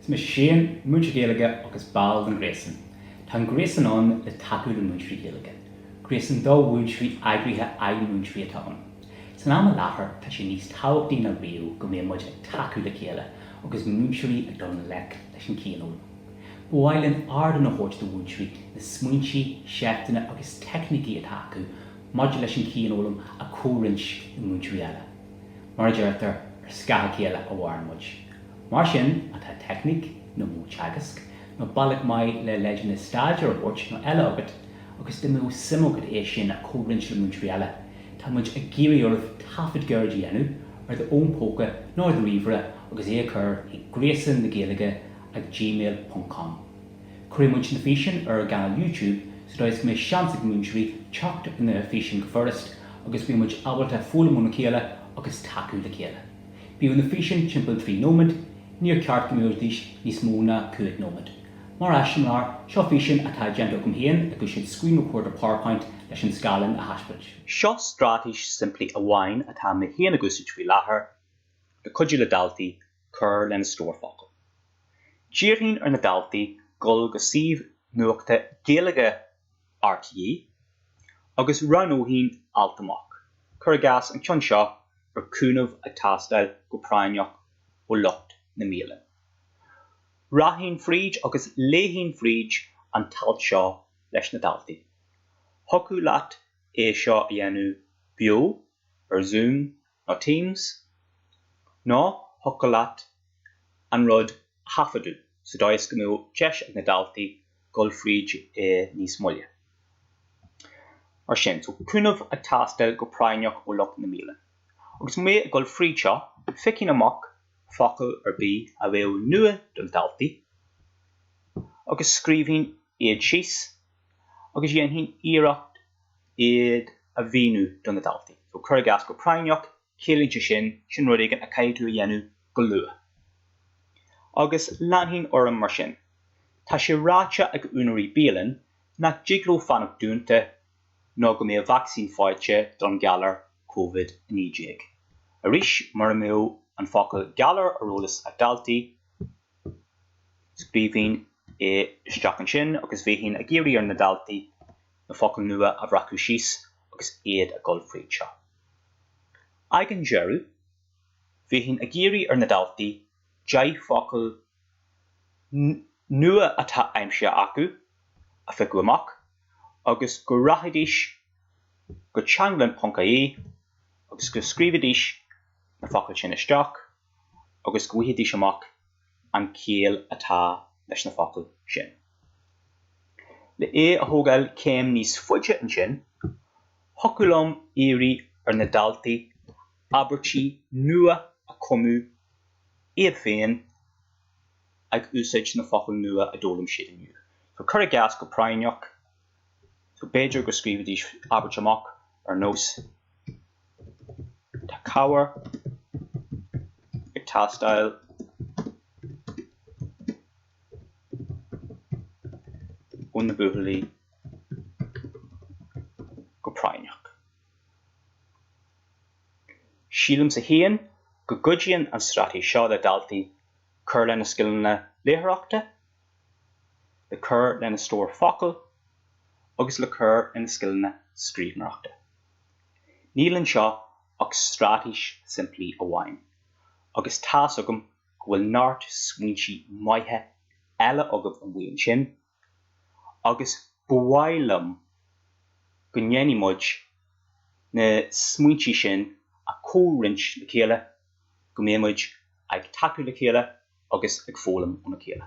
Is mise Shane, múinteoir Gaeilge agus ball den ghréasan. Tá an gréasan ann le tacú le múinteoirí Gaeilge. Gréasan do mhúinteoirí eagraithe ag múinteoirí atá ann. San am i láthair tá sé níos tábhachtaí ná riamh go mbeadh muid ag tacú le chéile agus múinteoirí ag dul i ngleic leis an cianfhoghlaim. Ba mhaith linn ardán a thabhairt do mhúinteoirí na smaointe, seifteanna agus teicnící atá acu maidir leis an chianfhoghlaim a chomhroinnt le múinteoirí eile. mar a deirtear, ar scáth a chéile a mhaireann muid. Mar sin má tá teicníc, nó modh teagaisc, nó bealach maith le leideanna staidéir a thabhairt nó eile agat agus dá mbeadh suim agat é sin a chomhroinnt le múinteoirí eile, tá muid ag iarraidh oraibh taifead gairid a dhéanamh ar do fhón póca nó ar do ríomhaire agus é a chur chuig Gréasán na Gaeilge at gmail ponc com. Cuirfidh muid na físeáin ar ár gcainéal YouTube sa dóigh is go mbeidh seans ag múinteoirí teacht ar na físeáin go furast agus go mbíonn muid ábalta foghlaim óna chéile agus tacú le chéile. Bíodh na físeáin timpeall 3 nóiméad, níor cheart go mbeidís níos mó ná 5 nóiméad. Mar eiseamláir, seo físeán atá déanta agam féin ag úsáid Screen Recorder PowerPoint leis an scáileán a thaispeáint. Seo straitéis simplí amháin atá mé féin ag úsáid faoi láthair le cuidiú le daltaí cur lena stór focal. D'iarrfainn ar na daltaí dul go suíomh nuachta Gaeilge RTÉ agus roghnóinn alt amach, cuir i gcás an ceann seo ar cúnamh ag teastáil go práinneach ó lucht na mbialann. Rachainn fríd agus léifinn fríd an t-alt seo leis na daltaí. Thiocfadh leat é seo a dhéanamh beo, ar Zoom ná Teams, ná thiocfadh leat an rud a thaifeadadh sa dóigh go mbeadh deis ag na daltaí dul fríd é níos moille. Mar sin, so cúnamh ag teastáil go práinneach ó lucht na mbialann. Agus mé ag dul fríd seo, phiocfainn amach focal ar bith a bheadh nua do na daltaí agus scríobhfainn iad síos agus dhéanfainn iarracht iad a mhíniú do na daltaí. So, cuir i gcás, go práinneach, ciallaíonn sé sin, sin rud éigin a chaithfidh tú a dhéanamh go luath. Agus leanfainn orm mar sin. Tá sé ráite ag úinéirí bialann nach dtig leo fanacht dúnta nó go mbeidh vacsaín faighte don ghalar Covid-19. Arís, mura mbeadh an focal 'galar' ar eolas ag daltaí, Scríobhfainn isteach ansin agus bheinn ag iarraidh ar na daltaí na focail nua a bhreacadh síos agus iad ag dul fríd seo. Ag an deireadh, bheinn ag iarraidh ar na daltaí deich bhfocal nua atá aimsithe acu a phiocadh amach agus go rachaidís go Teanglann.ie agus go scríobhfaidís na focail sin isteach. agus go bhfuighidís amach an chiall atá leis na focail sin. Le é a thógáil céim níos faide ansin, thiocfadh liom iarraidh ar na daltaí abairtí nua a chumadh iad féin ag úsáid na focail nua a d'fhoghlaim siad inniu, cuir i gcás go práinneach, B'fhéidir go scríobhfaidís abairt amach ar nós Tá cabhair ag teastáil óna buachaillí go práinneach. Sílimse féin go gcuidíonn an straitéis seo le daltaí cur lena scileanna léitheoireachta le cur lena stór focal agus le cur lena scileanna scríbhneoireachta. Níl anseo ach straitéis simplí amháin agus tá's agam go bhfuil neart smaointe maithe eile agaibh amuigh ansin agus ba mhaith liom go ndéanfaidh muid na smaointe sin a chomhroinnt le chéile go mbeidh muid ag tacú le chéile agus ag foghlaim óna chéile.